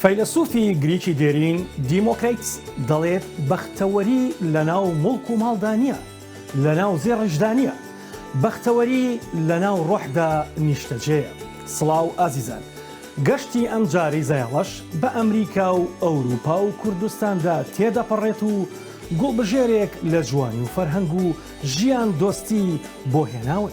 فەیلەسوفی گریکی دێرین دیمۆکریتس دەڵێت بەختەوەری لەناو موڵک و ماڵدا نییە، لەناو زێڕیشدا نییە، بەختەوەری لەناو ڕۆحدا نیشتەجێیە. سڵاو ئازیزان. گەشتی ئەم جارەی زایەڵەش بە ئەمریکا و ئەوروپا و کوردستاندا تێدەپەڕێت و گوڵبژێرێک لە جوانی و فەرهەنگ و ژیان دۆستی بۆ هێناون.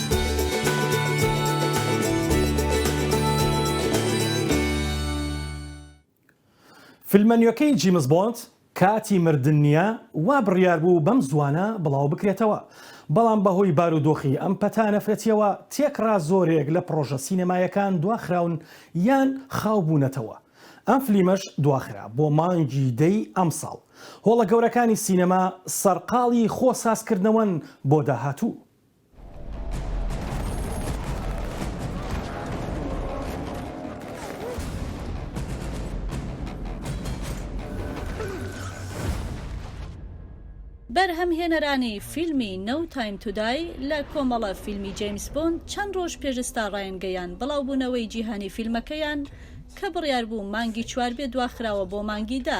فیلمە نوێکەی جیمس بۆند کاتی مردن نییە وا بڕیار بوو بەم زووانە بڵاو بکرێتەوە، بەڵام بەهۆی بارودۆخی ئەم پەتا نەفرەتییەوە تێکڕا زۆرێک لە پڕۆژە سینەماییەکان دواخراون یان خاو بوونەتەوە، ئەم فلیمەش دواخرا بۆ مانگی دەی ئەمساڵ. هۆڵە گەورەکانی سینەما سەرقاڵی خۆ سازکردنەوەن بۆ داهاتوو. بەرهەمهێنەرانی فیلمی No Time To Die لە کۆمەڵە فیلمی جەیمس بۆند چەند ڕۆژ پێش ستا ڕایان گەیان بڵاوبوونەوەی جیهانی فیلمەکەیان کە بڕیار بوو مانگی چوار بێ دواخراوە بۆ مانگی دە.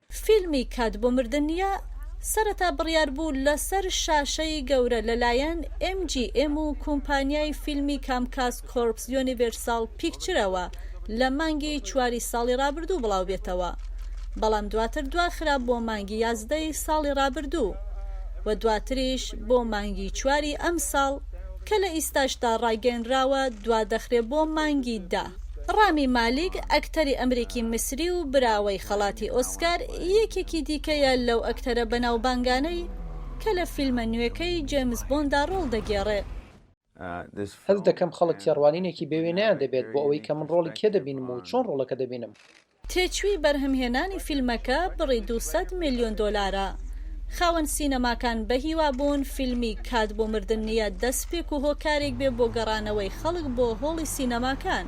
فیلمی کات بۆ مردن نییە سەرەتا بڕیار بوو لەسەر شاشەی گەورە لەلایەن ئێم جی ئێم و کومپانیای فیلمی کامکاس کۆرپس یۆنیڤێرساڵ پیکچرەوە لە مانگی چواری ساڵی ڕابردوو بڵاوبێتەوە بەڵام دواتر دواخرا بۆ مانگی یازدەی ساڵی ڕابردوو و دواتریش بۆ مانگی چواری ئەمساڵ کە لە ئیستاشدا ڕاگەێنراوە دوادەخرێ بۆ مانگی دە. ڕامی مالیک، ئەکتەری ئەمریکی میسری و براوەی خەڵاتی ئۆسکار، یەکێکی دیکەیە لەو ئەکتەرە بەناوبانگانەی کە لە فیلمە نوێکەی جەیمس بۆندا ڕۆڵ دەگێڕێ. هەست دەکەم خەڵک تێڕوانینێکی بێوێنەیان دەبێت بۆ ئەوەی کە من ڕۆڵی کێ دەبینم و چۆن ڕۆڵەکە دەبینم. تێچووی بەرهەمهێنانی فیلمەکە بڕی دوو سەد ملیۆن دۆلارە. خاوەن سینەماکان بەهیوا بوون فیلمی کات بۆ مردن نییە دەسپێک و هۆکارێک بێ بۆ گەڕانەوەی خەڵک بۆ هۆڵی سینەماکان.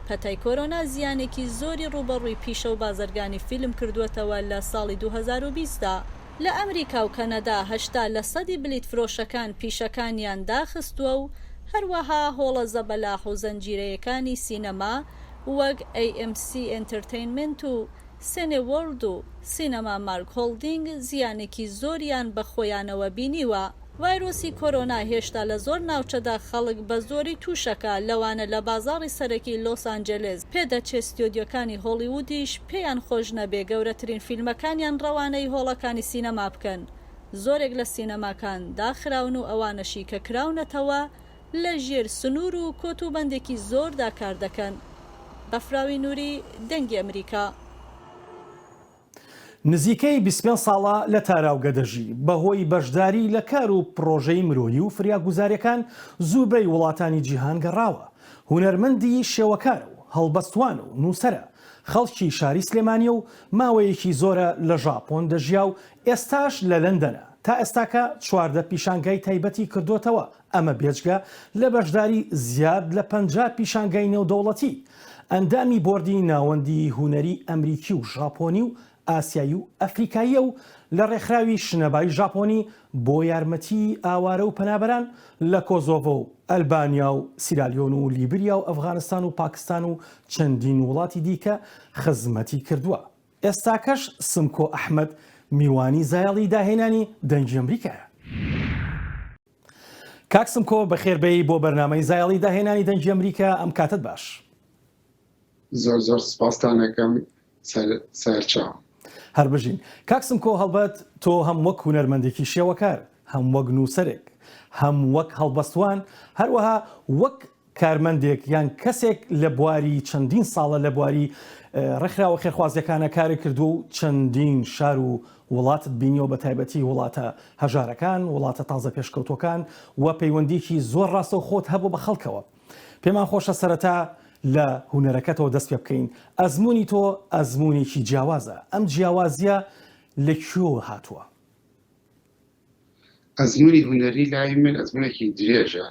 پەتای کۆرۆنا زیانێکی زۆری ڕووبەڕووی پیشە و بازرگانی فیلم کردووەتەوە لە ساڵی دوو هەزار و بیست دا. لە ئەمریکا و کەنەدا هەشتا لە سەدی بلیتفرۆشەکان پیشەکانیان داخستووە و هەروەها هۆڵە زەبەلاح و زەنجیرەیەکانی سینەما، وەک ئەی ئێم سی ئێنتەرتەینمێنت و سێنێ وۆرڵد و سینەما مارک هۆڵدینگ زیانێکی زۆریان بە خۆیانەوە بینیوە. ڤایرۆسی کۆرۆنا هێشتا لە زۆر ناوچەدا خەڵک بە زۆری تووشەکا لەوانە لە بازاڕی سەرەکی لۆس ئانجێلێس، پێدەچێ ستۆدیۆکانی هۆڵیوودیش پێیان خۆش نەبێ گەورەترین فیلمەکانیان ڕەوانەی هۆڵەکانی سینەما بکەن، زۆرێک لە سینەماکان داخراون و ئەوانەشی کە کراونەتەوە لە ژێر سنوور و کۆت و بەندێکی زۆردا کار دەکەن. بەفراوی نووری دەنگی ئەمریکا. نزیکەی بیست و پێنج ساڵە لە تاراوگە دەژی، بەهۆی بەشداری لە کار و پڕۆژەی مرۆیی و فریاگوزارییەکان زوبەی وڵاتانی جیهان گەڕاوە، هونەرمەندی شێوەکارە و هەڵبەستوان و نووسەرە، خەڵکی شاری سلێمانییە و ماوەیەکی زۆرە لە ژاپۆن دەژیا و ئێستاش لە لەندەنە، تا ئێستاکە چواردە پیشانگای تایبەتی کردۆتەوە، ئەمە بێجگە لە بەشداری زیاد لە پەنجا پیشانگای نێودەوڵەتی، ئەندامی بۆردی ناوەندی هونەری ئەمریکی و ژاپۆنی و ئاسیایی و ئەفریقاییە و لە ڕێکخراوی شنەبای ژاپۆنی بۆ یارمەتیی ئاوارە و پەنابەران لە کۆزۆڤۆ و ئەلبانیا و سیرالیۆن و لیبریا و ئەفغانستان و پاکستان و چەندین وڵاتی دیکە خزمەتی کردووە. ئێستاکەش سمکۆ ئەحمەد میوانی زایەڵی داهێنانی دەنگی ئەمریکایە. کاک سمکۆ بەخێر بێی بۆ بەرنامەی زایەڵی داهێنانی دەنگی ئەمریکا ئەم کاتەت باش. زۆر زۆر سپاستان ئەکەم سەرچاو. هەر بژین. کاک سمکۆ هەڵبەت تۆ هەم وەک هونەرمەندێکی شێوەکار، هەم وەک نووسەرێک، هەم وەک هەڵبەستوان، هەروەها وەک کارمەندێک یان کەسێک لە بواری چەندین ساڵە لە بواری ڕێکخراوە خێرخوازیەکانە کاری کردووە و چەندین شار و وڵاتت بینیەوە بە تایبەتی وڵاتە هەژارەکان وڵاتە تازە پێشکەوتوەکان و پەیوەندیکی زۆر ڕاستە و خۆت هەبوو بە خەڵکەوە پێمان خۆشە سەرەتا لە هوەرەکەتەوە دەست پێ بکەین ئەزمموی تۆ ئەزمونێکی جیاوازە ئەم جیاوازیە لە کوێ هاتووە ئەزمونی هوەری لای من ئەزمونێکی درێژە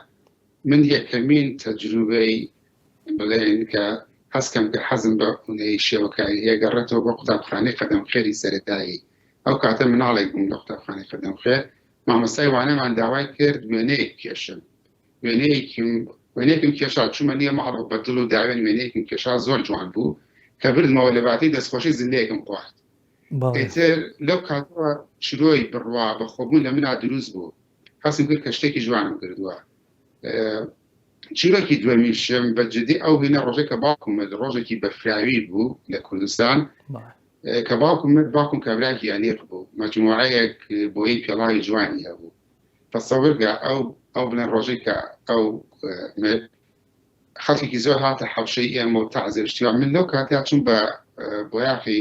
من یەکەمین تەجروبەی بڵێن کە هەستکەم کە حەزم بە ئونەی شێوەکاری هەیە گەڕێتەوە بۆ قوتابخانەی قەدەم خێری سەرەتایی ئەو کاتە مناڵێک بووم لە قوتابخانەی قەدەم خێر مامەسای وانەمان داوای کرد وێنەیەک کێشم وێنەیەکیم وێنێکم کێشا چوومە نیە ماڵۆ بە دڵ و داوێن وێنەیەکم کێشا زۆر جوان بوو کە بردمەوە لە باتی دەستخۆشی زلەیەکم خوارد تر لەو کاتەوە شرۆی بڕوا بە خۆبوون لە منا دروست بوو هەستم کرد کە شتێکی جوانم کردووە. چیرۆکی دووەمیشم بە جدی ئەو هینە ڕۆژێک کە باوکم مرد ڕۆژێکی بەفراوی بوو لە کوردستان کە باوکم مرد باوکم کابراکی ئەلیق بوو مەجموعەیەک بۆی پێڵاوی جوانی هەبوو تەسەورگە ئەو ئەو بڵێن ڕۆژێک کە ئەو خەڵکێکی زۆر هاتە حەوشەی ئێمە و تازێشتیوە من لەو کاتیا چون بە بۆیاخی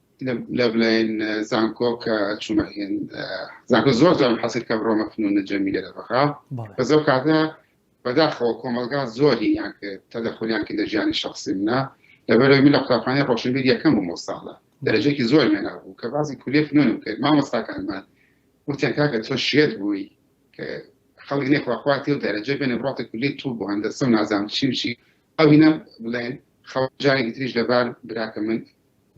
لەبلەین زانکۆ کە چوومە هێن زانکۆ زۆر جام حەسر کە بڕۆمە فنون جەمیلە لە بەغا بە زۆر کاتە بەداخەوە کۆمەلگا زۆری یان کرد تەدەخولیان کە دەژیانی شخصی منە لەبەرەوەی من لە قوتابخانەی ڕۆشنبیر یەکەم بووم ساڵە دەرەجێکی زۆر مێنا بوو کە بازی کولیە فنونم کرد مامۆستاکانمان وتیان کاکە تۆ شێت بووی کە خەڵک نێخواخواتی و دەرەجە بێنە بڕاتە کولی تو بۆ هەندەسە و نازام چی بچی ئەوینە بڵێن خەڵک جارێکی تریش لەبار براکە من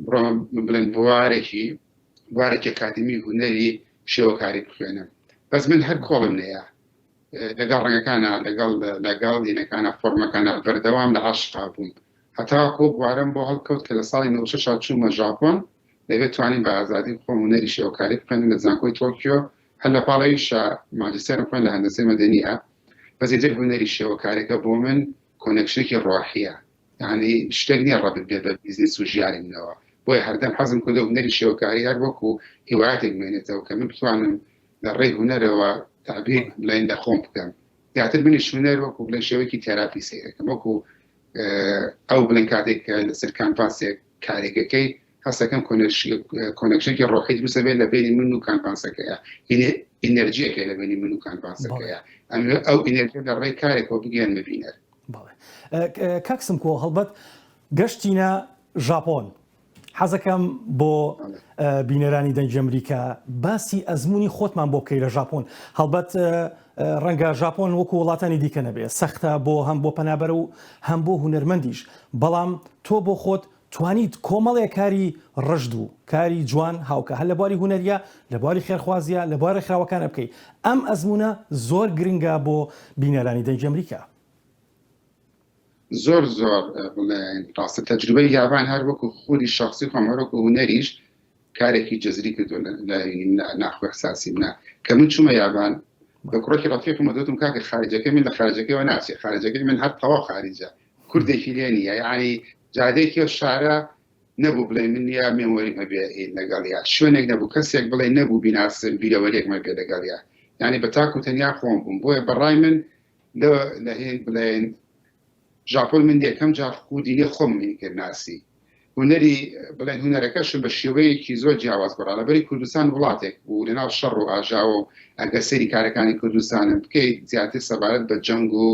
بڕۆم بڵێن بوارێکی بوارێکی ئەکادمی هونەری شێوەکاری بخوێنم بەس من هەر کۆڵم لێە لەگەڵ ڕەنگەکانە لەگەڵ لەگەڵ دینەکانە فۆرمەکانە بەردەوام لە عاشقا بووم هەتا کۆ بوارم بۆ هەڵکەوت کە لە ساڵی نوشە چوومە ژاپۆن دەبێت توانین بە ئازادی خۆم هونەری شێوەکاری بخوێنم لە زانکۆی تۆکیۆ هەر لە پاڵەویشە ماجستێرم خوێن لە هەندەسەی مەدەنیە بەزیتر هونەری شێوەکارەکە بۆ من کۆنێکشنێکی ڕۆحیە یانی شتێک نیە ڕەبت بێ بە بیزنس و ژیانی منەوە بۆیە هەردەم حەزم کردو هونەری شێوەکاری هەر وەکو هیوایەتێک بمێنێتەوە کە من بتوانم لە ڕێی هونەرەوە تابیر بڵێن لە خۆم بکەم زیاتر منی شونەر وەکو بڵێ شێوەیەکی تێراپی سەیرەکەم وەکو ئەو بڵێن کاتێک کە لەسەر کانفاسێک کارێکەکەی هەست دەکەم کۆنێکشنێکی ڕۆحی دروست دەبێت لە بینی من و کانڤاسەکەیە ئینەرجیەکە لە بینی من و کانڤاسەکەیە ئەمێ ئەو ئینەرجی لە ڕێی کارێکەوە بگەن ببینەر کاکسم کۆ هەڵبەت گەشتینە ژاپۆن حەزەکەم بۆ بینەرانی دەنگی ئەمریکا باسی ئەزمموی خۆتمان بۆ بکەی لە ژاپۆن هەڵبەت ڕەنگە ژاپۆن وەکو وڵاتانی دیکە نەبێت سەختە بۆ هەم بۆ پەنابەر و هەم بۆ هوەرمەندیش بەڵام تۆ بۆ خۆت توانیت کۆمەڵێ کاری ڕژد و کاری جوان هاوکا هەر لە بواری هونەریە، لە بواری خێرخوازیە، لە بوارە خراوەکانە بکەی. ئەم ئەزموونە زۆر گرنگە بۆ بینەرانی دەنگی ئەمریکا. زۆر زۆر ڕاستە تەجروبەی یابان هەر وەکو خودی شەخسی خۆم هەر وەکو هونەریش کارێکی جەزری کردوە لە ناخ و ئیحساسی منە کە من چومە یابان بە کوڕێکی ڕەفیقم و دوتم کاکە خارجەکەی من لە خارجەکەیەوە ناچێ خارجەکەی من هەر تەواو خاریجە کوردێکی لێ نییە یانی جادەیەکی ئەو شارە نەبوو بڵێ من یا مێمۆریم هەبێ لەگەڵیا شوێنێک نەبوو کەسێک بڵێ نەبوو بیناسم بیرەوەرێکمە بێ لەگەڵیا یعنی بە تاکو و تەنیا خۆم بووم بۆیە بەڕای من لە هێن بڵێن ژاپۆن من یەکەم جار خودی لێ خۆم کرد ناسی هونەری بڵێن هونەرەکەشم بە شێوەیەکی زۆر جیاواز گۆڕا لەبەری کوردستان وڵاتێک بوو لەناو شەڕ و ئاژاوە و ئەگەر سەیری کارەکانی کوردستانم بکەیت زیاتر سەبارەت بە جەنگ و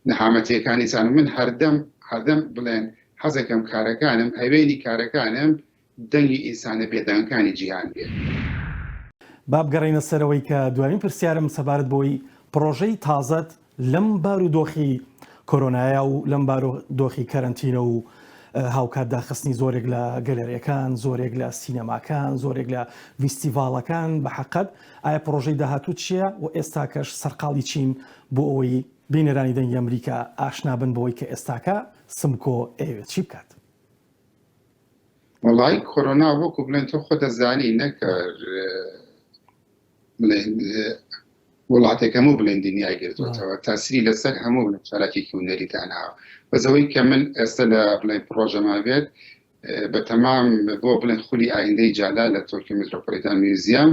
نەهامەتیەکانی سان من هەردەم هەردەم بڵێن حەزەکەم کارەکانم هەوێنی کارەکانم دەنگی ئینسانە بێدەنگەکانی جیهان بێت. با بگەڕێینە سەرەوەی کە دوایین پرسیارم سەبارەت بەوەی پڕۆژەی تازەت لەم بارودۆخی کۆرۆنایە و لەم بارودۆخی کەرەنتینە و هاوکات داخستنی زۆرێک لە گەلەرێکان زۆرێک لە سینەماکان زۆرێک لە ویستیڤاڵەکان بە حقت ئایا پرۆژەی داهاتوو چییە و ئێستاکەش سەرقاڵی چین بۆ ئەوەی بینەرانی دەنگی ئەمریکا ئاشنابن بەوەی کە ئێستاکە سمکۆ ئەیەوێت چی بکات وڵی کۆرۆنا وەکو بڵێن تۆ خۆ دەزانی نەکە بڵێن وڵاتێک هەموو بڵێن دنیای گرتوەتەوە تاسری لەسەر هەموو چالاکێکی ونەری داناوە بەزەوەی کە من ئێستا لە بڵێن پرۆژەما بێت بە تەمام بۆ بڵێن خولی ئایندەی جالا لە تۆکی میترۆپۆلیتان میوزیام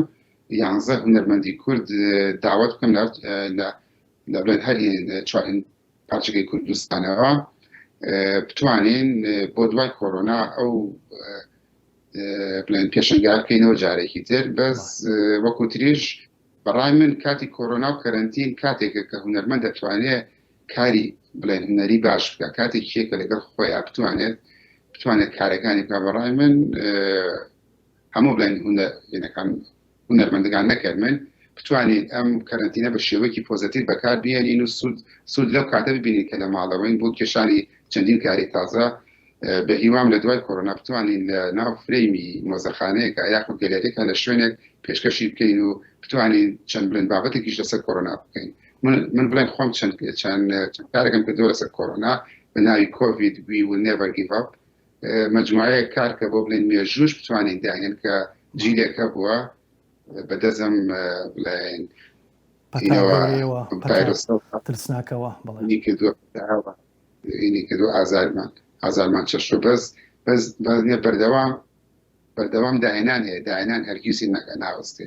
یانزە هونەرمەندی کورد داوت بکەم لە بڵێن هەر چوارین پارچەکەی کوردستانەوە بتوانین بۆ دوای کۆرۆنا ئەو بڵێن پێشنگا بکەینەوە جارێکی تر بەس وەکو تریش بەڕای من کاتی کۆرۆنا و کەرنتین کاتێکە کە هوەرمەند دەتوانێت کاری بڵێن هوەری باش بکە کاتێک شێکە لەگەڵ خۆیان بتوانێت بتوانێت کارەکانی بکە بەڕای من هەموو بڵێن هوەرەکان هونەرمەندگان نەکەرمن بتوانین ئەم کەرەنتینە بە شێوەیەکی پۆزەتیڤ بەکار بێنین و سوود سوود لەو کاتە ببینین کە لە ماڵەوەین بۆ کێشانی چەندین کاری تازە بە هیوام لە دوای کۆرۆنا بتوانین لە ناو فرەیمی مۆزەخانەیەکە یاخود گەلەرێکە لە شوێنێک پێشکەشی بکەین و بتوانین چەند بلند بابەتێکیش لەسەر کۆرۆنا بکەین من بڵێم خۆم چەند چەند کارێکم کردو لەسەر کۆرۆنا بە ناوی کۆڤید وی و نێڤەر گیڤ ئەپ مەجموعەیەک کار کە بۆ بڵێن مێژووش بتوانین داهێن کە جیلێک هەبووە بەدەزم بڵێن ترسناکەوە کردو ئازارمان ئازارمان چەشت بەس بەس بەزنیە بەردەوام بەردەوام داهێنان هەیە داهێنان هەرگیزی نەکە ناوەستێ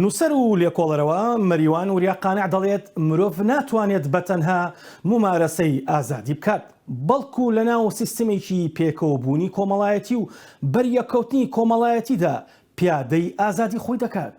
نووسەر و لێکۆڵەرەوە مەریوان وریا قانع دەڵێت، مرۆڤ ناتوانێت بە تەنها مومارەسەی ئازادی بکات، بەڵکو لە ناو سیستمێکی پێکەوەبوونی کۆمەڵایەتی و بەریەککەوتنی کۆمەڵایەتیدا پیادەی ئازادی خۆی دەکات.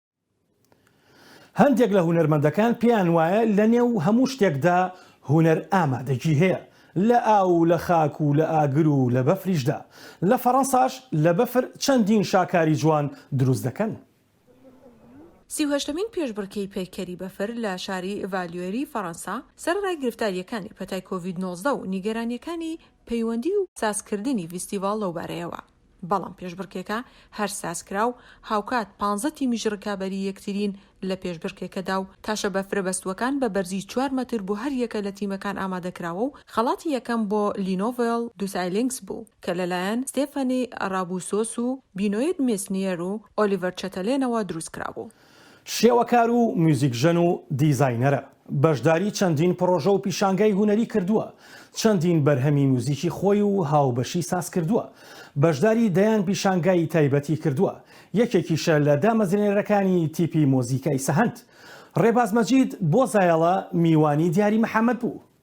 هەندێک لە هونەرمەندەکان پێیان وایە لە نێو هەموو شتێکدا هونەر ئامادەگی هەیە لە ئاو و لە خاک و لە ئاگر و لە بەفریشدا لە فەڕەنساش لە بەفر چەندین شاکاری جوان دروست دەکەن. سی و هەشتەمین پێشبڕکێی پەیکەری بەفر لە شاری ڤالیۆری فەڕەنسا سەرەڕای گرفتارییەکانی پەتای کۆڤید نۆزدە و نیگەرانییەکانی پەیوەندی و سازکردنی ڤیستیڤاڵ لەوبارەیەوە، بەڵام پێشبڕکێکە هەر سازکرا و هاوکات پانزە تیمیش رکابەری یەکترین لە پێشبڕکێکەدا و تاشە بەفرە بەستووەکان بە بەرزی چوار مەتر بۆ هەر یەکە لە تیمەکان ئامادەکراوە و خەڵاتی یەکەم بۆ لینۆڤێل دوسایلینکس بوو کە لەلایەن ستێفەنی رابوسۆس و بینۆید مێسنیەر و ئۆلیڤەر چەتەلێنەوە دروستکرابوو. شێوەکار و میوزیکژەن و دیزاینەرە، بەشداری چەندین پڕۆژە و پیشانگای هونەری کردووە، چەندین بەرهەمی میوزیکی خۆی و هاوبەشی سازکردووە، بەشداری دەیان پیشانگای تایبەتی کردووە، یەکێکیشە لە دامەزرێنەرەکانی تیپی مۆزیکای سەهەند. ڕێباز مەجید بۆ زایەڵە میوانی دیاری محەمەد بوو.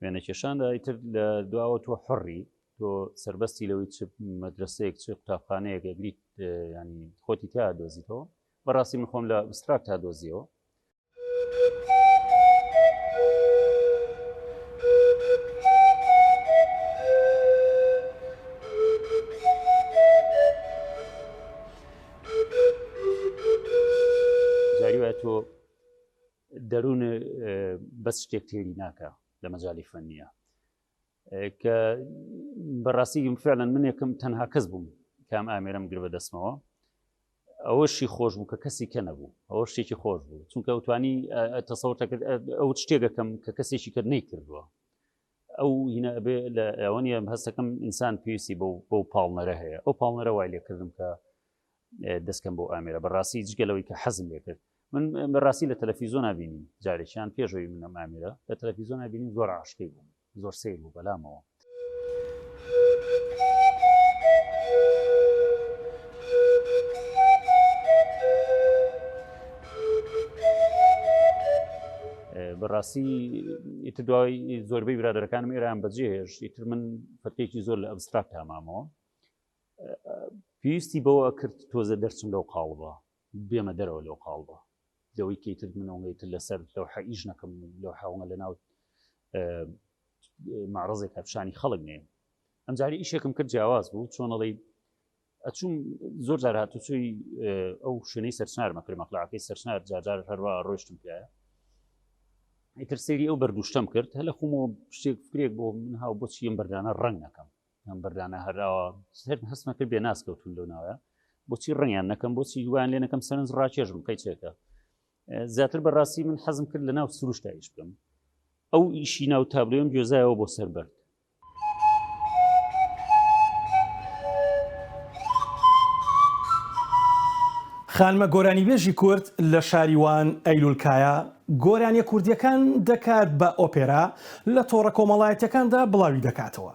وێنەکێشاندا ئیتر لە دواوە تۆ حڕی تۆ سربەستی لەوەی چ مەدرسەیەک چ قوتابخانەیەک ئەگریت ینی خۆتی تا دۆزیتەوە بەڕاستی من خۆم لە ئوستراک تا دۆزیەوە دەرون بەس شتێک تێری ناکە لە مەجای فەنە کە بەڕاستی فعلەن منێکم تەنها کەس بووم کام ئامێرم گر بە دەستمەوە ئەوەشی خۆش بوو کە کەسی کە نەبوو ئەوە شتێکی خۆش بوو چونکە ئەوتوانی تەسەوتەکرد ئەو شتێکەکەم کە کەسێکی کرد نەی کردووە ئەو هینە ئەبێ لە ئەوەنیە هەستەکەم ئینسان پێویستی بۆ بۆ پاڵنەرە هەیە ئەو پاڵنەرە وای لێکردم کە دەستکەم بۆ ئامێرە بەڕاستی جگە لەوەی کە حەزم لێ کرد من بەڕاستی لە تەلەفیزۆنا بینیم جارێکیان پێشەوەی منم ئامێرە لە تەلەفیزۆنا بینیم زۆر عاشقی بووم زۆر سیر بوو بەلامەوە بەڕاستی ئیتر دوای زۆربەی برادەکانم ئێران بەجێهێش ئیتر من فەتێکی زۆر لە ئەبستراک تامامەوە پێویستی بەوە کرد تۆزە دەرچم لەو قاڵبە بێمە دەرەوە لەو قاڵبە لەوەی کەیتر منەوەی تر لەسەر لەو حەئیش نەکەم لەو حاوەە لە ناو مەڕزێک هەپشانی خەڵک نێ ئەمجاری ئیشێکم کرد جیاواز بوو چۆنەڵی ئەچوم زۆر جار هاتوچوی ئەو شوێنەی سەرچار مەکرد مەقلاکەی سەرچار جارجار هەروە ڕۆشتم پیاە ئیتر سری ئەو بەردوشتم کرد هەلە خۆمەوە شتێک فکرێک بۆ من هاو بۆچی ئەم بەردانە ڕنگ نەکەم ئەم بەردانە هەراوە سێت هەستمە کرد بێ ناس کەوتون لەو ناوە بۆچی ڕنگیان نەکەم بۆچی دوان لێ نەکەم سەرنج ڕاکێژم قەیچێکە زیاتر بەڕاستی من حەزم کرد لە ناو سروشتا ئیش بکەم ئەو ئیشی ناو تابلۆم گوێزایەوە بۆ سەر بەرد خانمە گۆرانیبێژی کورد لە شاریوان ئەیلولکایە گۆرانیە کوردیەکان دەکات بە ئۆپێرا لە تۆڕە کۆمەڵایەتەکاندا بڵاوی دەکاتەوە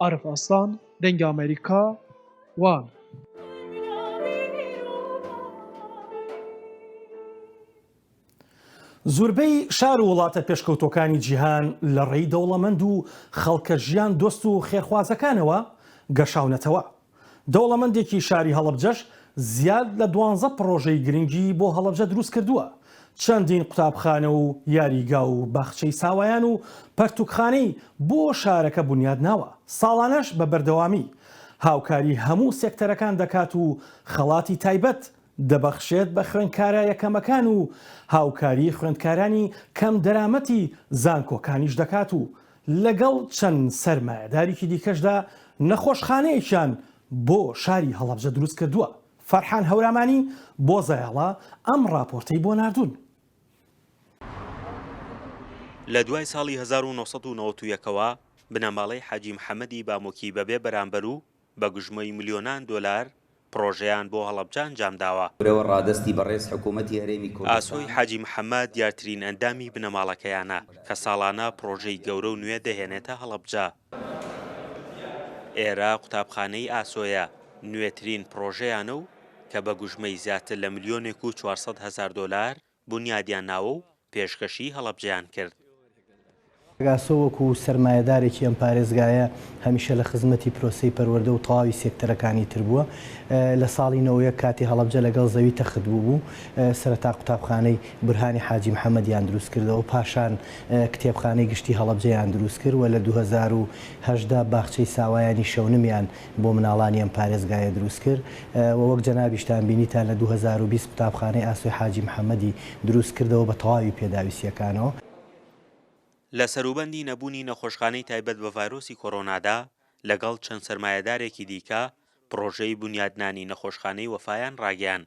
عارف ئاسڵان، دەنگی ئەمەریکا، وان. زوربەی شار و وڵاتە پێشکەوتوەکانی جیهان لە ڕێی دەوڵەمەند و خەڵکە ژیان دۆست و خێرخوازەکانەوە گەشاونەتەوە، دەوڵەمەندێکی شاری هەڵەبجەش زیاد لە دوانزە پڕۆژەی گرنگی بۆ هەڵەبجە دروستکردووە، چەندین قوتابخانە و یاریگا و باخچەی ساوایان و پەرتوکخانەی بۆ شارەکە بونیادناوە، ساڵانەش بە بەردەوامی هاوکاری هەموو سێکتەرەکان دەکات و خەڵاتی تایبەت دەبەخشێت بە خوێندکارە یەکەمەکان و هاوکاری خوێندکارانی کەم دەرامەتی زانکۆکانیش دەکات و لەگەڵ چەند سەرمایەداریکی دیکەشدا نەخۆشخانەیەکیان بۆ شاری هەڵەبجە دروستکردووە. فەرحان هەورامانی بۆ زەیاڵە ئەم ڕاپۆرتەی بۆ ناردوون. لە دوای ساڵی هەزار و نۆ سەد و نەوەت و یەک ەوە بنەماڵەی حاجی محەمەدی بامۆکی بەبێ بەرامبەر و بە گوژمەی ملیۆنان دۆلار پڕۆژەیان بۆ هەڵەبجە ئەنجامداوە. ورەوە ڕادەستی بەڕێز حکوومەتی هەرێمی ئاسۆی کوردستان. حاجی محەممەد دیارترین ئەندامی بنەماڵەکەیانە کە ساڵانە پڕۆژەی گەورە و نوێ دەهێنێتە هەڵەبجە. ئێرە قوتابخانەی ئاسۆیە نوێترین پڕۆژەیانە و کە بە گوژمەی زیاتر لە ملیۆنێک و چوار سەد هەزار دۆلار بونیادیان ناوە و پێشکەشی هەڵەبجەیان کرد. پگاسۆ وەکو سەرمایەدارێکی ئەم پارێزگایە هەمیشە لە خزمەتی پرۆسەی پەروەردە و تەواوی سێکتەرەکانی تر بووە. لە ساڵی نەوەد و یەک کاتێ هەڵەبجە لەگەڵ زەوی تەخت بووبوو، سەرەتا قوتابخانەی بورهانی حاجی محەمەدیان دروست کردەوە، پاشان کتێبخانەی گشتی هەڵەبجەیان دروست کرد و لە دوو هەزار و هەژدە باخچەی ساوایانی شەونمیان بۆ مناڵانی ئەم پارێزگایە دروست کرد و وەک جەنابیشتان بینی تا لە دوو هەزار و بیست قوتابخانەی ئاسۆی حاجی محەمەدی دروست کردەوە بە تەواوی پێداویستیەکانەوە. لە سەروبەندی نەبوونی نەخۆشخانەی تایبەت بە ڤایرۆسی کۆرۆنادا، لەگەڵ چەند سەرمایەدارێکی دیکە، پڕۆژەی بونیادنانی نەخۆشخانەی وەفایان ڕاگەیاند.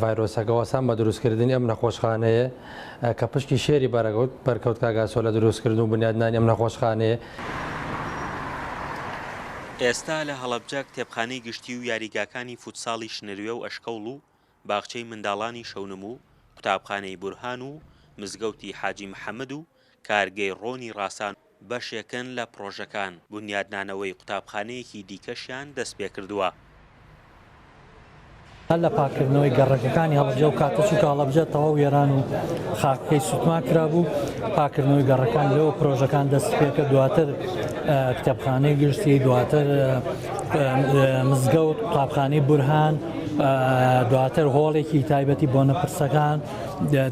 ڤایرۆسەکە وەسان بە دروستکردنی ئەم نەخۆشخانەیە کە پشکی شێری بەرەگوت بەرکەوت کاگاسۆ لە دروستکردن و بنیادنانی ئەم نەخۆشخانەیە. ئێستا لە هەڵەبجە کتێبخانەی گشتی و یاریگاکانی فوتساڵی شنروێ و ئەشکەوڵ و باخچەی منداڵانی شەونم و قوتابخانەی بورهان و مزگەوتی حاجی محەمد و کارگەی ڕۆنی ڕاسان بەشێکن لە پڕۆژەکان، بونیادنانەوەی قوتابخانەیەکی دیکەشیان دەستپێکردووە. هەر لە پاککردنەوەی گەڕەکەکانی هەڵەبجە و کاتە چووکە هەڵەبجە تەواو وێران و خاکەکەی سووتمان کرابوو، پاککردنەوەی گەڕەکان لەوە پرۆژەکان دەستیپێکرد، دواتر کتێبخانەی گشتی، دواتر مزگەوت، قوتابخانەی بورهان، دواتر هۆڵێکی تایبەتی بۆنە پرسەکان،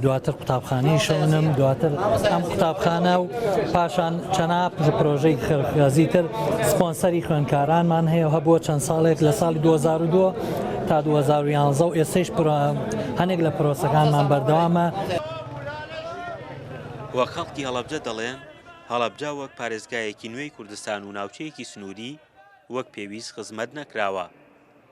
دواتر قوتابخانەی شەونم دواتر ئەم قوتابخانە و پاشان چەنا پرۆژەی خەرخازی تر سپۆنسەری خوێنکارانمان هەیە هەبووە چەند ساڵێک لە ساڵی 2002 تا 2011 و ئێستش هەنێک لە پرۆسەکانمان بەردەوامە. و خەڵکی هەڵەبجە دەڵێن هەڵەبجە وەک پارێزگایەکی نوێی کوردستان و ناوچەیەکی سنووری وەک پێویست خزمەت نەکراوە.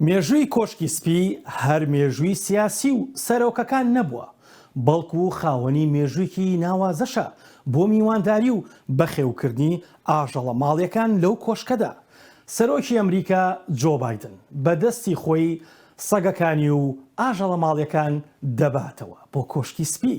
مێژووی کۆشکی سپی هەر مێژووی سیاسی و سەرۆکەکان نەبووە، بەڵکو خاوەنی مێژوویکی ناوازەشە بۆ میوانداری و بەخێوکردنی ئاژەڵە ماڵیەکان لەو کۆشکەدا. سەرۆکی ئەمریکا جۆ بایدن بە دەستی خۆی سەگەکانی و ئاژەڵە ماڵیەکان دەباتەوە بۆ کۆشکی سپی.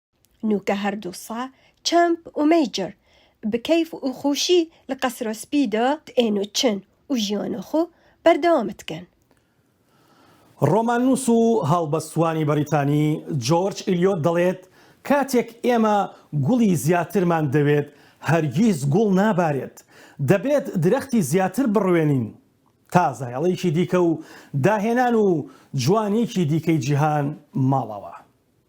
نوکە هەردوو سا چەمپ و مەیجر، بکەیف و خوشی لە قەسرە سپی دە تئێن و چن و ژیانە خو بەردەوام دکەن. ڕۆماننووس و هەڵبەستوانی بەڕیتانی جۆرج ئیلیۆت دەڵێت، کاتێک ئێمە گوڵی زیاترمان دەوێت، هەرگیز گوڵ نابارێت. دەبێت درەختی زیاتر بڕوێنین تا زایەڵێکی دیکە و داهێنان و جوانییەکی دیکەی جیهان ماڵەوە.